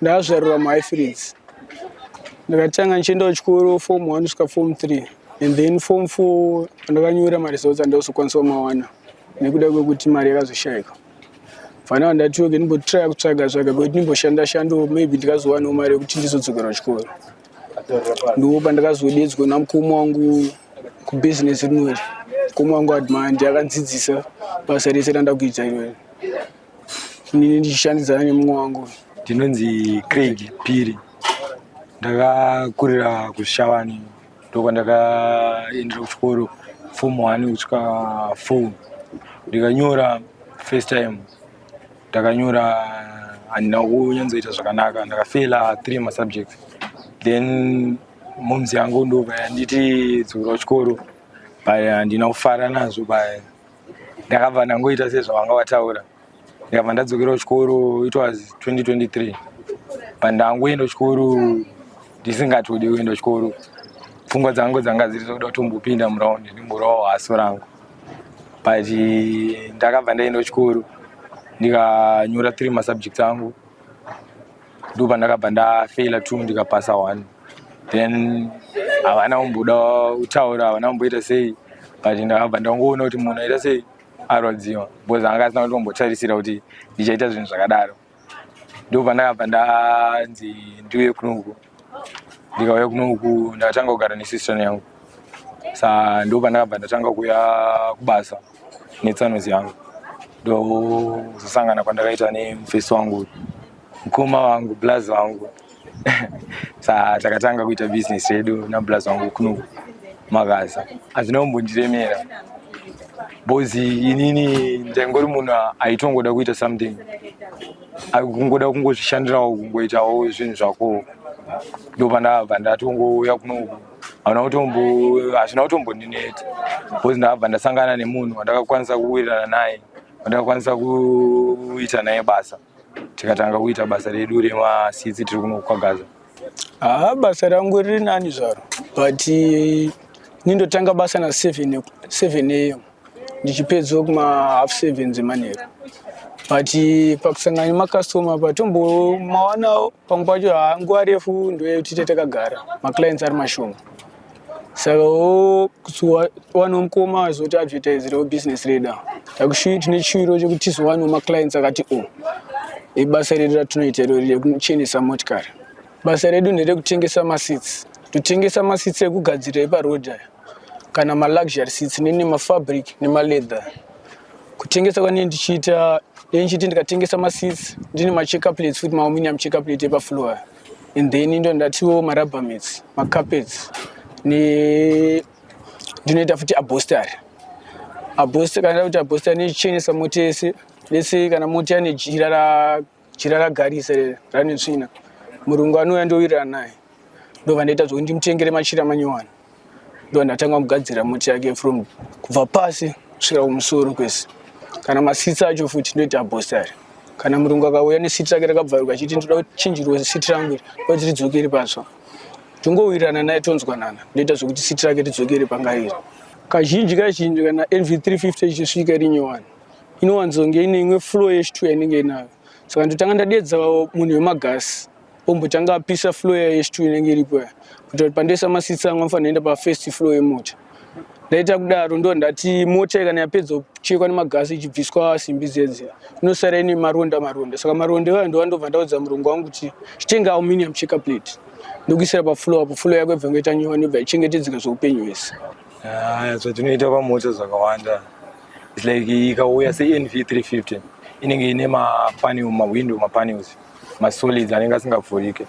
ndakazvarirwa muhighfields ndakatanga ndichiendawo chikoro form one kusvika form three and then form four pandakanyora maresults andakuzokwanisa kumawana nekuda kwekuti mari yakazoshayika fanaa ndatiweke ndimbotraya kutsvaga tsvaga kwekuti ndimboshanda shandawo maybe ndikazowanawo mari yekuti ndizodzokera kuchikoro ndiwo pandakazodedzwa namukoma wangu kubhizinesi rinori mukoma wangu admandi akandzidzisa basa rese randakuita irori Inini ndichishandidzana nemumwe wangu uyu. Ndinonzi Craig Phiri. Ndakakurira kuZvishavane ndokwandakaendera kuchikoro form one kusvika four. Ndikanyora first time ndakanyora handina kunyatsoita zvakanaka ndakafeila three masubjects then moms yangu ndobva yanditi dzokera kuchikoro but handina kufara nazvo but ndakabva ndangoita sezvawanga wataura ndikabva ndadzokera kuchikoro it was 2023 but ndangoenda kuchikoro ndisingatodi kuenda kuchikoro pfungwa dzangu dzanga dziri dzokuda kutombopinda muraundi ndimborawo haso rangu but ndakabva ndaenda kuchikoro ndikanyora three masubjects angu ndo pandakabva ndafeila two ndikapasa one then havana kumboda kutaura havana kumboita sei but ndakabva ndangoona kuti munhu aita sei arwadziwa because anga asina kuti ombotarisira kuti ndichaita zvinhu zvakadaro ndo pandakabva ndanzi ndiuye kunoku ndikauya kunoku ndakatanga kugara nesistern yangu sa ndo pandakabva ndatanga kuuya kubasa netsanozi yangu ndozosangana kwandakaita nemufesi wangu mukoma wangu blaz wangu sa takatanga kuita business yedu nablaz wangu kuno makaza hazvina kumbondiremera bozi inini ndaingori munhu aitongoda kuita something kungoda kungozvishandirawo kungoitawo zvinhu zvako ndopandabva ndatongouya kunoku hauna kutombo hazvina kutombondineta bcause ndakabva ndasangana nemunhu wandakakwanisa kuwirirana naye wandakakwanisa kuita naye basa tikatanga kuita basa redu remasitsi tiri kuno kwagaza haa basa rangu riri nani zvaro but nindotanga basa na seven am ndichipedzwa kuma half seven dzemanheru but pakusangana nemakastoma patombomaonawo pamwe pacho hanguva refu ndoyekutite takagara maclients ari mashoma saka wowanawo mukoma wazoti advertiserewo business reda tine chiro chekuti tizowanawo maclients akati o oh, ibasa redu ratinoita irori rekuchenesa motikari Basa redu nderekutengesa maseats. Totengesa maseats ekugadzira eparoad aya kana maluxury seats nene mafabric nemaleather. Kutengesa kwanee ndichiita dei ndichiti ndikatengesa maseats ndine machecker plates futi maaluminium checker plate epafloor aya and then ndo ndatiwo marubber mats macarpets ne ndinoita futi abostary abostary kana ndakuti abostary nechenesa motese lese kana moti ane jira Jira ragarisa iri rane tsvina. Murungu anouya ndowirirana naye. Ndobva ndaita zvokuti ndimutengere machira manyowani. Ndobva ndatanga kumugadzira moti yake from kubva pasi kusvika kumusoro kwese. Kana masitsi acho futi ndoita bhostari. Kana murungu akauya nesiti rake rakabvaruka achiti ndoda kuchinjirwa siti rangu iri kuti ridzokere patsva. Tongowirirana naye tonzwanana. Ndoita zvokuti siti rake ridzokere panga iri. Kazhinji kazhinji kana NV350 ichisvika iri nyowani inowanzonge ine imwe flow yechituya inenge inayo saka ndotanga ndadedza munhu wemagasi ombotanga apisa flow yayo yechituya inenge iripo ya kuita kuti pandoisa masitsi angu anofanira enda pafirst flow yemota ndaita kudaro ndo ndati mota ikana yapedza kuchekwa nemagasi ichibviswa simbi dzedzi inosara ine maronda maronda saka maronda iwayo ndova ndobva ndaudza murungu wangu kuti chitenga aluminium checker plate ndokuisira paflow apo flow yako ibva ngoita nyowani ibva ichengetedzeka zveupenyu hwese Ah, zvatinoita pamota zvakawanda its like ikauya senv 350 inenge ine mapanel mawindow mapanels masolids anenge asingavhurike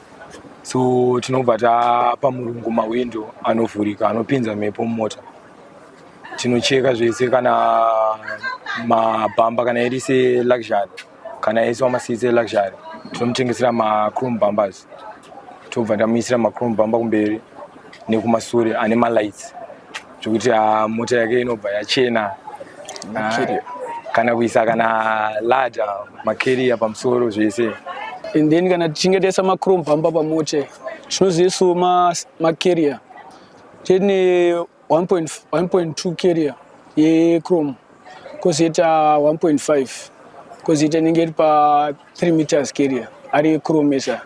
so tinobva tapa murungu mawindow anovhurika anopinza mhepo mumota tinocheka zvese kana mabhamba kana iri seluxury kana ese wamasiitse luxury tinomutengesera machrome bumbers tobva tamuisira machrome bumber kumberi nekumasure ane malights zvekuti ah, mota yake inobva yachena ah, kana kuisa kana lada makeriya pamusoro zvese and then kana tichinge taisa machrome bumber pamota tinozoisawo makeriya then eh, 1.2 carrier yechrome kozoita 1.5 kozoita inenge iri pa 3 meters carrier ari yechrome esa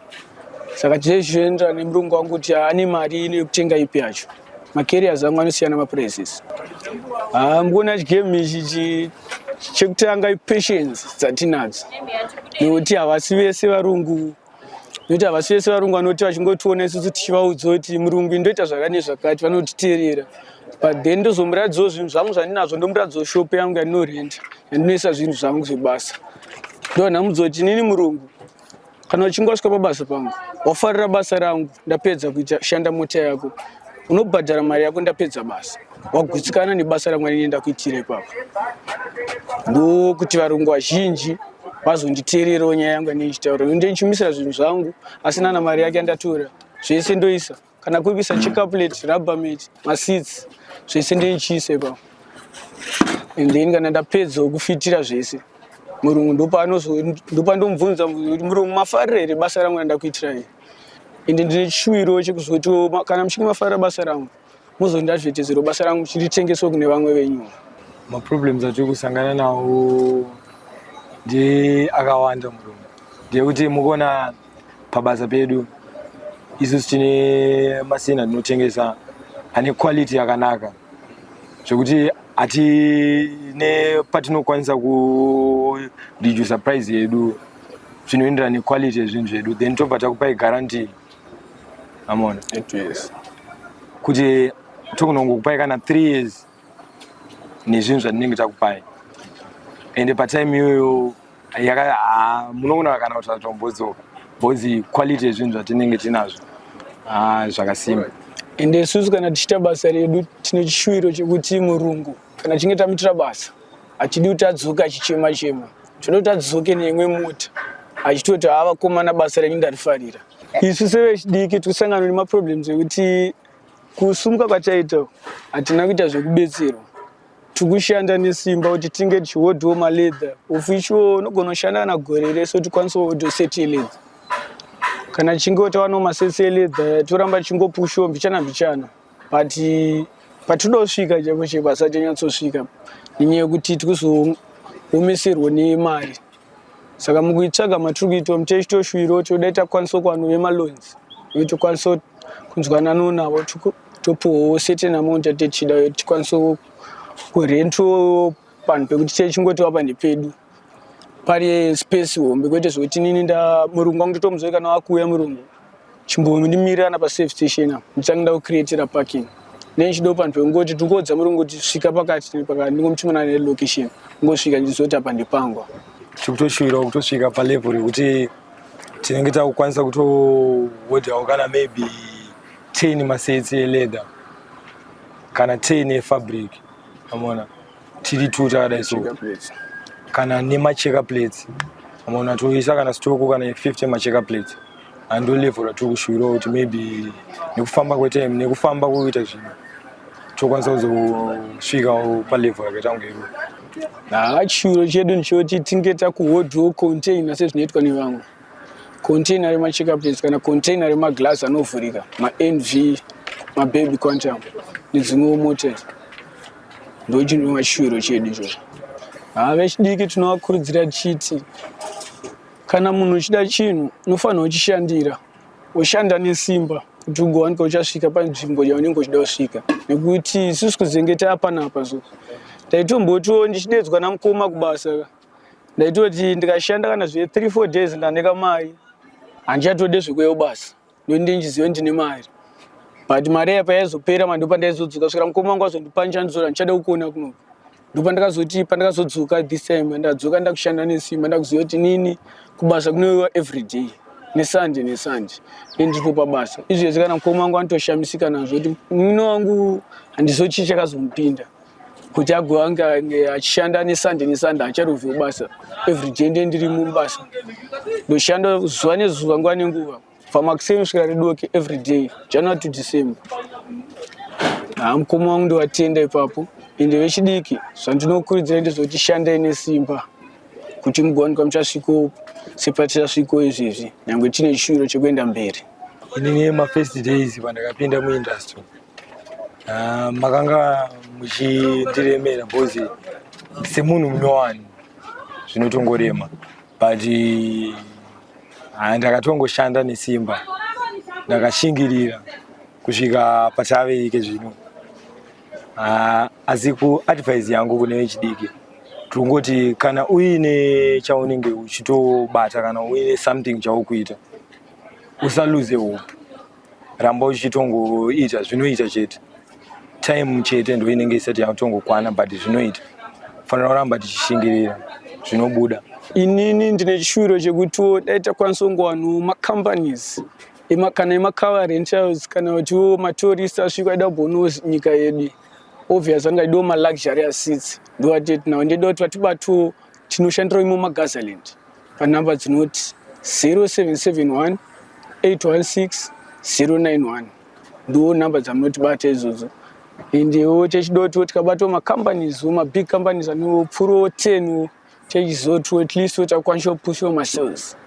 saka tizei zvichienderana nemurungu wangu kuti ane mari ino yekutenga ipi yacho macarriers angu anosiyana maprices hamgona ah, chigame ichi chekutanga ipatience dzatinadzo nekuti havasi vese varungu nokuti havasi vese varungu vanoti vachingotiona isusu tichivaudza kuti murungu indoita zvakati nezvakati vanotiteerera but then ndozomuratidzawo zvinhu zvangu zvandinazvo ndomuratidzawo shopo yangu yandinorenda yandinoisa zvinhu zvangu zvebasa ndonhamudza kuti inini murungu kana uchinge wasvika pabasa pangu wafarira basa rangu ndapedza kuita shanda mota yako unobhadhara mari yako ndapedza basa wagutsikana nebasa ramwari nenda kuitira ipapa ndokuti varungu vazhinji vazonditeererawo nyaya yangu yanei chitaura ende ndichimisira zvinhu zvangu asi nana mari yake andatora zvese ndoisa kana kuri kuisa checaplet rubbermat masits zvese ndeichiisa ipapa and then kana ndapedzawo kufitira zvese murungu ndopandomubvunza kuti murungu mafarira here basa rangu randakuitirai ende ndine chishuwiro chekuzotiwo kana muchinge mafarira basa rangu mozoenda zvete zviro basa rangu chiritengeswe kune vamwe venyu maproblems atiri kusangana nawo ndi akawanda murume ndeyekuti mukuona pabasa pedu isusu tine masina anotengesa ane quality yakanaka zvekuti hatine patinokwanisa kuredusa price yedu zvinoenderana nequality yezvinhu zvedu then tobva takupai guarantee I'm on eight years kuti tokunongokupai kana three years nezvinhu zvatinenge takupai ende patime iyoyo ah, munoona kana kuti zvatombodzoka bhozi quality yezvinhu zvatinenge tinazvo ah, zvakasimba ende isusu kana tichiita basa redu tine chishuwiro chekuti murungu kana tichinge tamuitira basa hatidi kuti adzoke achichema chema tinoda kuti adzoke neimwe mota achitoti haa vakomana basa renyu ndarifarira isu sevechidiki tikusangana nemaproblems ekuti kusumuka kwataita hatina kuita zvekubetserwa tikushanda nesimba kuti tinge tichihodhiwo maleather of which wo unogona kushanda kana gore rese kuti kwanisa kuhodhiwo seti yelether kana tichinge tawanawo masesi yelether toramba tichingopushiwo mbichana mbichana but patinodosvika chaipo chaipo asachanyatsosvika nenyaya yekuti tikuzoomesirwa nemari saka mukuitsvaga matiri kuitwa mutechitoshuviro toda takwanisa kuvanhu vemaloans uye tokwanisa kunzwanano navo topuwawo certain amount yatetichida uye tikwanisa kurentwo panhu pekuti techingoti vapa ndepedu pane space hombe kwete zvekuti nini nda murungu wangu totomuzoe kana wakuuya murungu chimbomi ndimirirana pasafe station apo ndichange ndakucreatira parking then chido panhu pekungoti ndingoudza murungu kuti svika pakati nepakati ndingomutumana nelocation ngosvika ndizoti apa ndipangwa tiri kutoshuwirawo kutosvika palevel rekuti tinenge takukwanisa kutohodhawo kana maybe ten masetsi eleather kana ten efabric amona tiri two takadai so kana nemacheka plates amaona toisa kana stoko kana 50 macheka plates ando level ratiri kushuvira kuti maybe nekufamba kwetime nekufamba kuita zvinhu tokwanisa kuzosvika palevel yakaita kunge iro haa chiro chedu ndichoti tinge takuhodhiwo container sezvinoitwa nevamwe container remacheka plates kana container remaglass anovhurika manv mababy quantum nedzimwewo motors ndochinova chiro chedu izvozvo haa vechidiki tinovakurudzira tichiti kana munhu uchida chinhu unofanira uchishandira ushanda nesimba kuti ugowanika uchasvika panzvimbo yaunenge uchida kusvika nekuti isusu kuzenge taapanapa so taitombotiwo ndichidedzwa namukoma kubasa ndaitoti ndikashanda kana zve three four days ndaneka mai handichatode zvekuyewo basa ndokuti ndinjizive ndine mari but mari iya payaizopera ma ndopa ndaizodzoka svikira mukoma wangu azondipa ndichandizora ndichada kukuona kunoku ndopa ndakazoti pandakazodzoka this time ndadzoka ndakushanda nesimba ndakuziva kuti nini kubasa kunoiwa every day nesande nesande nendipo pabasa izvezvi kana mukoma wangu anotoshamisika nazvo kuti mwino wangu handizochii chakazomupinda kuti agova ange achishanda nesande nesande acharovhi kubasa everyday nde ndiri mubasa ndoshanda zuva nezuva nguva nenguva pamakuseni kusvika redoke everyday january to december haa mukoma wangu ndovatenda ipapo ende vechidiki zvandinokurudzira ndezvekuti shandai nesimba kuti mugowanikwa muchasviko sepatichasviko izvezvi nyange tine chishuviro chekuenda mberi inini mafirst days pandakapinda muindustry Ah, makanga muchindiremera because semunhu munyowani zvinotongorema but ah, ndakatongoshanda nesimba ndakashingirira kusvika pataveike zvino Ah, asi kuadvise yangu kune vechidiki tirikungoti kana uine chaunenge uchitobata kana uine something chaukuita usaluze hope ramba uchitongoita zvinoita chete time chete ndo inenge isati yatongokwana but zvinoita fanira kuramba tichishingirira zvinobuda inini ndine chishuviro chekutiwo dai takwanisa kungowanawo macompanies kana emacover rentals kana kutiwo matourist asvika aida kubonawo nyika yedu obvious anga idiwo maluxury asitsi ndovatinawo ndida kuti vatibatiwo tinoshandirawo imo magazaland panhamba dzinoti 0771 816 091 ndiwo nhamba dzamunotibata izvozvo endewo techidotiwo tikabatawo macompanies wo mabig companies anewo pfurowo tenwo techizotiwo at least wo takukwanisa kupushiwa masales